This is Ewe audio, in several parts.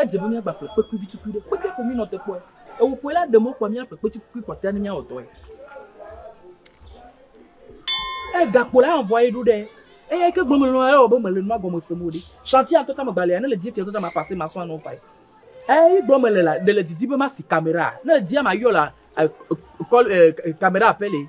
Edze be míagba ƒle kpekui vi tukui ɖe. Kpekui ko mínɔ te kpɔe. Ewu kpɔe la, ɖe mɔkpɔa míaƒle kpekui kpɔtɔea ne míawɔ dɔe. Eye gakpo la hã vɔ eɖo ɖe eya yi ke gblɔm mele nɔ ewɔ be mele nua gɔme sem o ɖi. Shanti ya ŋutɔ tsɛ megba lia ne le di efia ŋutɔ tsɛ mapase masɔ anɔ evae. Eyi gblɔm mele la, ɖe le didi be masi kamera? Ne le dia mayɔ la, e, e, kɔl, e, e, kamera pɛlɛ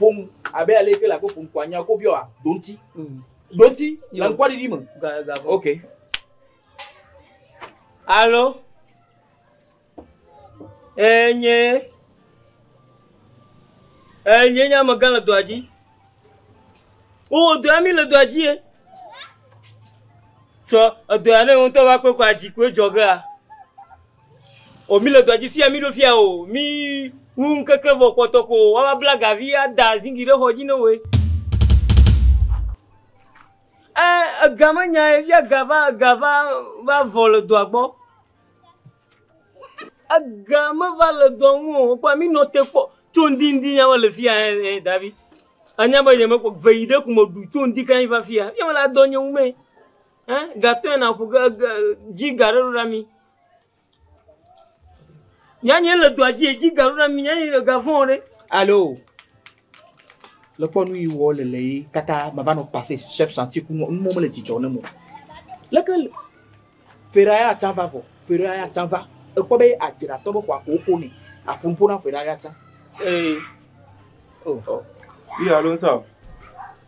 ƒom abe ale ke le abe ƒom ko anya ko biɔa ɖoŋti ɖoŋti le ŋkɔɖiɖi me ok alo enye enye nye amegã le dɔa dzi wowɔ dɔa mi le dɔa dzi ye tsɔ edɔa ne ŋutɔ va kpekɔ adzi koe dzɔgea O mi le dɔa dzi fia mi ɖo fia o mi ŋu ŋkeke vɔ kpɔtɔ ko wa va bla gavi ada zingi ɖe xɔ dzi ne woe. Ɛ ega me nya ye fia ga va ga va va vɔ le dɔa gbɔ. Ega me va le dɔa ŋu o kpɔ mi nɔ te kpɔ tso ŋdi ŋdi nya me le fia ɛ ɛ davi. Anya be nye me kpɔ veyi ɖe kume du tso ŋdi kan va fia. Fia me la dɔ nye ŋu mɛ. eh gatɔe naƒo ge ge dzi ga aɖe ɖo na mí. Nyɔnuwo le dɔa dzi edzi ga ɖo na mí nyɔnuwo le ga vɔ̃ ɖe. Alo. Le kpɔ nu yi wɔ le le yi kaka mava nɔ pase chef chantier ku nu mo le dzidzɔ ne mo. Leke fera ya tsa va vɔ. Fera ya tsa va. Ekpɔ be adzra tɔ be xɔ ko ko ne. Aƒun ƒo na fera ya tsa. Eh. Oh. oh. Iya lo nsa.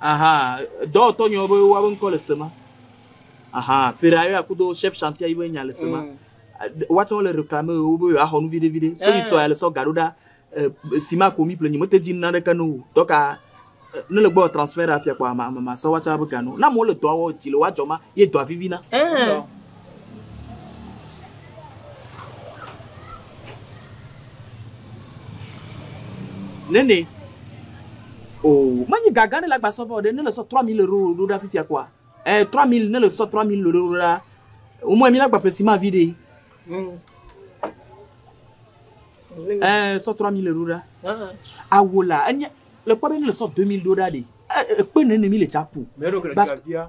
Aha, dɔwɔtɔ nyɔ be woabe ŋkɔ le sema. Aha, Ferrari akudo chef chantier yibe nya le sema. Mm. Woatsɛ wole reklame wo be yewoaxɔ nu viɖe viɖe. Seli eh. sɔ ya le sɔ gaɖo ɖa sima ko mi plenyi mete dzi nuna ɖeke no o. Dɔka ne le gbɔ transfert afia kpɔ ama ama sɔ woatsɛ be gano. Na mo le dɔa wɔ dzi le woadzɔ ma ye dɔa vivina. Eh. Nene. Oh, manyi gaga ne la gba sɔvɔ ɖe ne le sɔ 3000 euro ɖo ɖa fifia kɔa. Eh 3000 ne le sɔ 3000 euro ɖo ɖa. O mɔ mi la gba pesi ma vi ɖe. Mm. Eh sɔ 3000 euro ɖa. Ah. Awola enye le kpɔ be ne le sɔ 2000 ɖo ɖa ɖe. Eh ekpe nene mi le chapu. Mero kle via.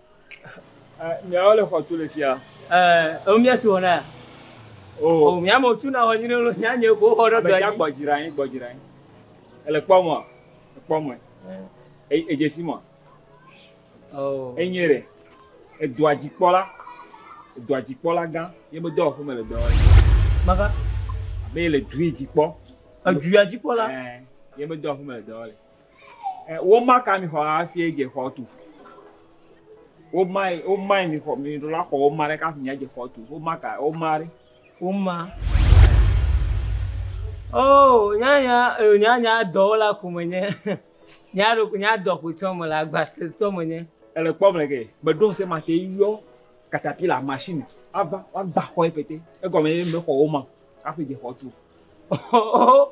Miawo le xɔtu le fia. Ɛɛ, ewo mía si wɔ na. O. Mía me tu na wɔ nyine lo mía nye ko xɔ ɖe do. Mɛja gbɔ dzra yin, gbɔ dzra yin. Ele kpɔ mɔ, ekpɔ mɔ. E, ejesi mɔ. O. Enye re. Edua dzi kpɔ la. Edua dzi kpɔ la gã. Ye me dɔ ɔfu me le dɔ wɔ. Maka. Be le dui dzi kpɔ. Edua dzi kpɔ la. Ɛɛ, ye me dɔ ɔfu me le dɔ wɔ le. Womaka mi xɔ hafi adze xɔ tu. Womae, womae mi xɔ, mi ɖo la xɔ woma ɖe kafi mi adze xɔ tu. Womaka, woma ɖe. Woma. Oh, nya nya, eh, nya nya dɔwo la ko menye. Nya ɖo nya dɔ ko tsɔ me le agba tsɔ menye. Ele kpɔ me ke. Gbeɖo ŋsɛ ma te yɔ katapila machine ava woagba xɔ ye pɛtɛ. Egɔme ye be xɔ woma kafi dze xɔ tu. Oh, oh, oh.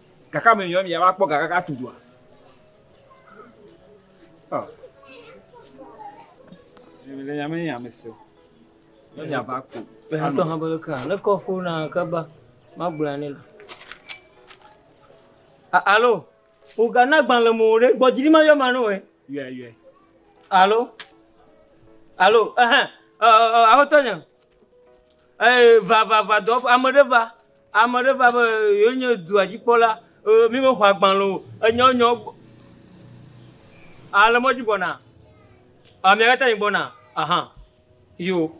Gake ame nyui ya va kpɔ ga kaka tu dua. Ɔ. Ame le nyame nye ame se. Ne nya va ko. Be ha tɔ ha bolo ka. Ne kɔ fo na ka ba. Ma gbla ne la. Alo. O ga na gban le mo re. Bo jiri ma yo ma no e. Yue yue. Alo. Alo. Eh eh. Eh eh. Aho tɔ nya. Eh va va va do. Ame re va. Ame aɖe va be, Yewo nye dua dzi kpɔla. Eye mi me xɔ agbalẽ o. Enye wo nyawo gbɔ. A le mɔdzi gbɔna? A mia kata mi gbɔna? Aha. Yo.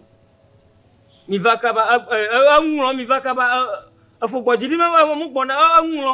Mi va kaba. E, e, e, e ŋlɔ mi va kaba. E, e fo gbɔ dzi. Mi me va mo gbɔna. E, e ŋlɔ.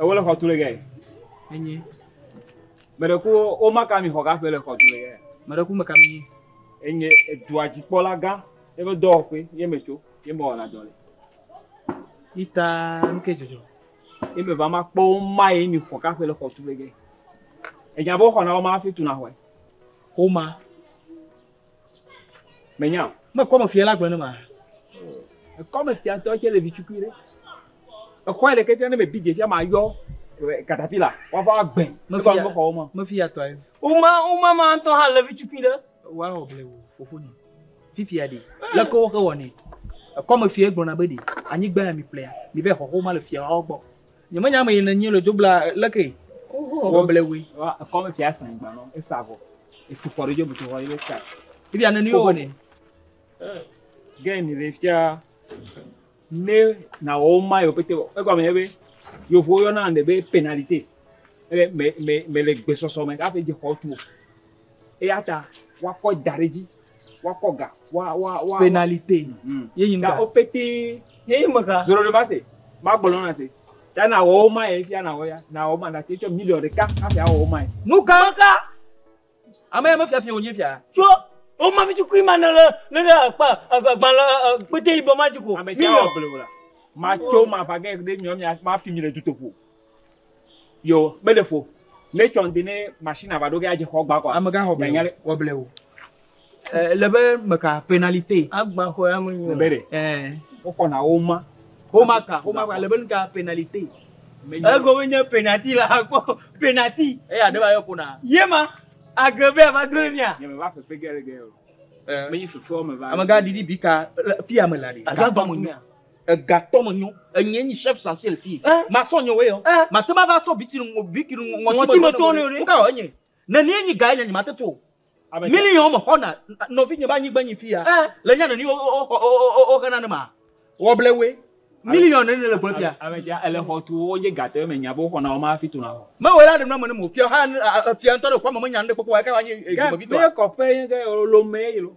Ewo le xɔtu le gɛ. Enyi. Mɛɖeku wo maka mi xɔ gaƒe le xɔtu le gɛ. Mɛɖeku meka mi nyi. Enyi edua dzikpɔla gã ye be dɔwɔƒe ye me tso ye me wɔna dɔ le. Ita nuke dzɔdzɔ. Ye me va ma kpɔ wo ma ye mi xɔ gaƒe le xɔtu le gɛ. Enya be wo xɔna wo ma hafi tuna xɔe. Xoma. Menya o. Me kɔme fia la gblɔ ne ma. Ekɔme fia ŋutɔ tse le vitsukui ɖe. Exɔe ɖeke tse ne me bi dze fia ma yɔ katapila wava gbɛ. Me fia me xɔwo ma. Me fia tɔ ayi. Uma uma ma ŋutɔ hã le vitsukui ɖe. Wa wɔ ble wo fofo ni. Fifia ɖe. Le ko wo xe wɔ ne. Ekɔme fia gblɔ na be ɖe anyigba ya mi ƒlea. Mi ve xɔxo ma le fia wɔ gbɔ. Nyemenya ame yi nènye le dzoblaa leke wɔ ble wui. Ekɔme fia sɛn gba nɔ esa vɔ. Efu kɔ ɖe dzobu tsohɔ ye ka. Ibi ane ni wɔ ne. Gɛn ni le fia ne na wɔ ma yo pete wɔ. Egɔ me be yo vo yo na ande be penalite. Ele me me me le gbesɔsɔ me ka fe je kɔ tu. Eya ta woakɔe da ɖe edzi, woakɔ ga, wa, wa, wa. Pénalité. Mhm. Ye nyi nu Ta ka? wo pétee. Ye nyi me ka? Zoro ɖe mase. Magblɔ nɔ nase. Ta nawɔ wo ma ye fia nawɔ ya. Nawɔ wo ma nate tsɔ miliɔn ɖeka hafi awɔ wo ma ye. Nu ka? Me ka? Ame ya me fia fia wonye fia. Tsɔ wo ma vitukui ma ne le, ne le akpa, ave gbalẽ, e, kpete yibɔ ma dzi ko. Ame sia awɔ blewu la. Matso mava ge ɖe miɔ mia, mafi mi le dutoƒo. Yo, mele fo. Ne tsɔ ŋdi ne machine ava ɖo ge adze xɔ gba kɔa. Amega xɔ blewo. Xɔ blewo. Eh, le be meka penalite. Agba xɔ ya me nyo. Bere. Eh. Wokɔ na wo ma. Homa ka, homa ka le be nka penalite. Ego me nye penalty la akpɔ penalty. E ya ɖeba yɔ kona. Ye ma agrebe ya va dre mia. Ye me va fefe ge le ge. Eh. Me yi fefe o me va. Amega didi bika fia me la de. Agba gba me nyo. Egatɔ me nyɔ. Enyɛ nyi chef chancel fi. Masɔ nyɔ wɛ yɔ. Mate ma va sɔ biki nu biki nu ŋɔti me tɔ nɛ. Nuka wɔ enyɛ? Neni ye nyi ga enyɛ nyi ma te to. Mili yɔ me xɔ na nɔvi nye ba nyigba nyi fi ya. Le nya neni wo xe na ne ma wɔ ble wɛ. Mili yɔ neni le gble fi ya. Ame dza ele xɔ tu wo ye gatɔ ye me nya bo xɔ na wo ma fi to na xɔ. Me wɛ la ɖe nua me ne mo fia ha fia ŋtɔ ɖe kɔ ame me nya nu ɖe kpɔkpɔ wa eka wa nyi dzi me vi tɔ. Gɛ me kɔ ƒe ye ge lo me ye lo.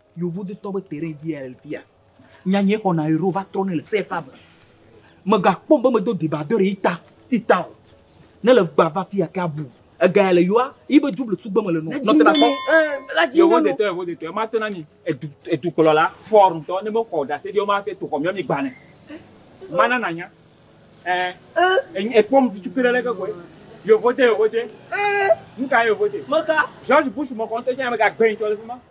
Yevu detɔ be terrain dzi ya le fia. Nyanya xɔ na euro va trɔ ne le CFA me. Me ga kpɔ be me do deba do re ita ita o. Ne le gba va fia ke abu. Ega ya le yoa, yi be double tugbe me le no. Nɔ tena kpɔ. La dzi Yevu detɔ Yevu detɔ ma tena ni edu edu kplɔ la for ntɔ ne me xɔ da se dio ma te to xɔ mi mi gba ne. Ma na na nya. Eh. Eh. E kpɔ mi tu kira le ke ko. Yevu de Yevu de. Eh. Nka Yevu de. Meka. George Bush mo konte nya me ga gbe ntɔ le fuma.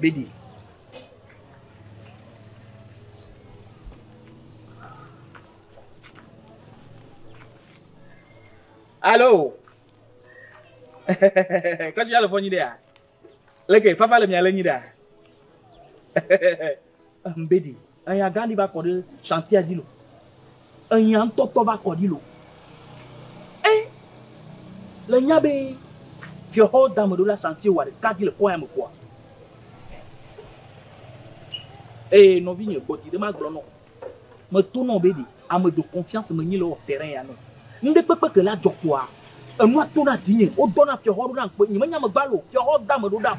Bedi. Alo. Kasi ya le fɔ nyi ɖe ya. Leke fafa le mia le nyi ɖe ya. Ehmbedi, eya gã ɖi va kɔ ɖe shantia dzi lo. Eya ŋutɔ tɔ va kɔ ɖi lo. E le nya be fiɔxɔ dame ɖo la shanti wa ɖeka dzi le kɔ ya me kɔa. Eye nɔvi nye gbɔ dzi ɖe ma gblɔ nɔ. Me to nɔ be ɖi ame do confiance me nyi le wɔ terrain ya nɔ. Ŋɖe kpekpe ke la jɔ kɔa. Enua to na dzi nye. Wo dɔ na fiɔxɔ ɖo na ŋkpe. Nye me nya me gba lo. Fiɔxɔ dame ɖo ɖam.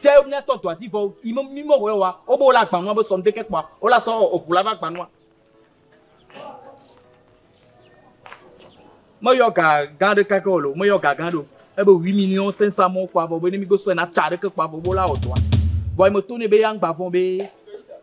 Tsɛ míatɔ dɔa dzi vɔ yi me mi mɔwɔ wa o be wole agbanua be sɔm deke kpɔa wole asɔ eʋu la va agbanua. Meyɔ ga gã ɖeka ke wòle o, meyɔ ga gã ɖe o. Ebe huit millions cinq cents mɔwo kpɔa vɔ be ne mígbe sɔɛ na tsã ɖeke kpɔa vɔ be wole awɔ dɔa. Vɔ yi meto nɛ be eya ŋgba vɔ̃ be